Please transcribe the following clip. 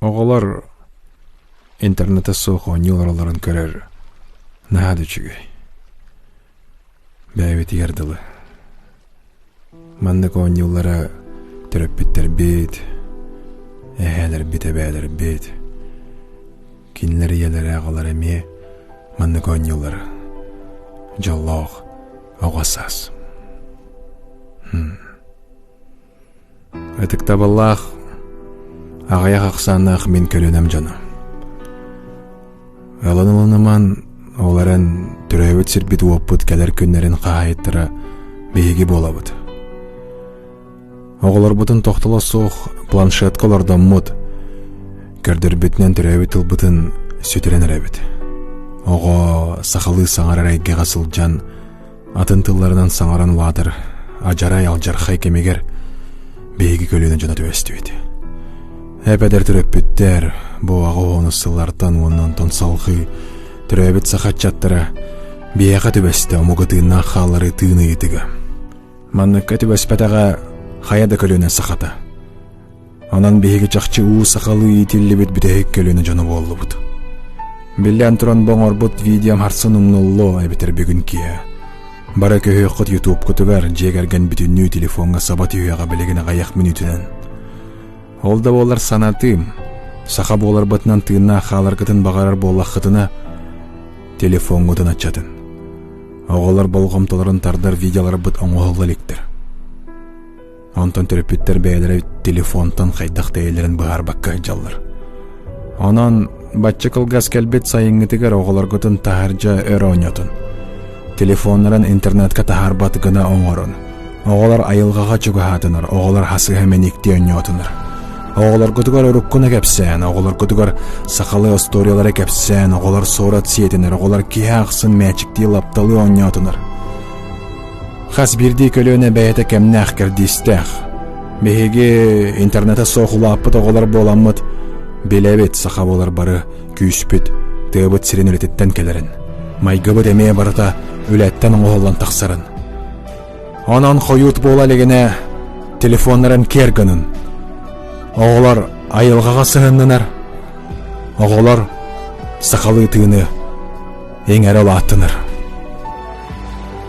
Оҕолор интернете суох оонньуу олороллорун көрөр наһаа да үчүгэй. Бэйэбитигэр дылы. Маннык оонньуулары төрөппүттэрбит, эһээлэрбит, эбээлэрбит, кинилэр ийэлэрэ аҕалара эмиэ маннык оонньуулары дьоллоох оҕо саас. Ытыктабыллаах аҕыйах ахсааннаах мин көлүөнэм дьоно. Ылан ылыныман, ол эрэн төрөөбүт сирбит-уоппут кэлэр күннэрин хаһаайыттара биһиги буолабыт. Оҕолорбутун тохтоло суох планшетка олордоммут, көрдөрбүтүнэн төрөөбүт тылбытын сүтүрэн эрэбит. Оҕо сахалыы саҥарар эйгэҕэ сылдьан атын тылларынан саҥаран улаатар адьарай алдьархай кэмигэр биһиги көлүөнэ дьоно түбэстибит эпэдэр төрөппүттэр бу аҕа уһуну сыллартан уонна онтон салҕыы төрөөбүт саха аччаттара биһиэхэ түбэстэ омук ытыыннаах хаалларыы тыын ыйытыга манныкка түбэспэтэҕэ хайа да көлүөнэ сахата Онон биһиги чахчы уу сахалыы иитиллибит бүтэһик көлүөнэ дьоно буоллубут. Биллэн туран бу оҥорбут видеом харсын умнуллуо эбэтэр бүгүн киһи. Бары көһүөххүт ютубкутугар дьиэ кэргэн бүтүннүү телефоҥҥа саба түһүөҕэ билигин аҕыйах мүнүүтүнэн. Ол да буоллар санатыым, саха буоларбытынан тыыннаах хааларгытын баҕарар буоллаххытына, телефоҥҥутун аччатын. Оҕолор болҕомтолорун тардар видеоларбыт оҥоһулла иликтэр. Онтон төрөппүттэр бэйэлэрэ телефонтан хайдах тэйэлэрин быһаарбакка ыдьаллар. Онон бачча кылгас кэлбит сайыҥҥытыгар оҕолоргутун таһырдьа өр оонньотун. Телефоннарын интернетка таһаарбат гына оҥорун. Оҕолор айылҕаҕа чугаһаатынар, оҕолор хасыһа мэниктии онньоотунар. Оҕолоргутугар уруккуна кэпсээн, оҕолоргутугар сахалыы остуоруйалары кэпсээн, оҕолор суорат сиэтинэр, оҕолор киһи ахсын мээчиктии лапталыы онньоотунар. Хас биирдии көлүөнэ бэйэтэ кэмнээх кэрдиистээх. Биһиги интернете суох улааппыт оҕолор буоламмыт, билэбит, саха буолар бары күүспүт, тыабыт сирин үлэтиттэн кэлэрин. Майгыбыт эмиэ барыта үлэттэн оҥоһуллан тахсарын. Онон хойуут буола илигинэ телефоннарын киэр гынын. Оҕолор айылҕаҕа сыһыннынар. Оҕолор сахалыы тыыны иҥэрэ улааттынар.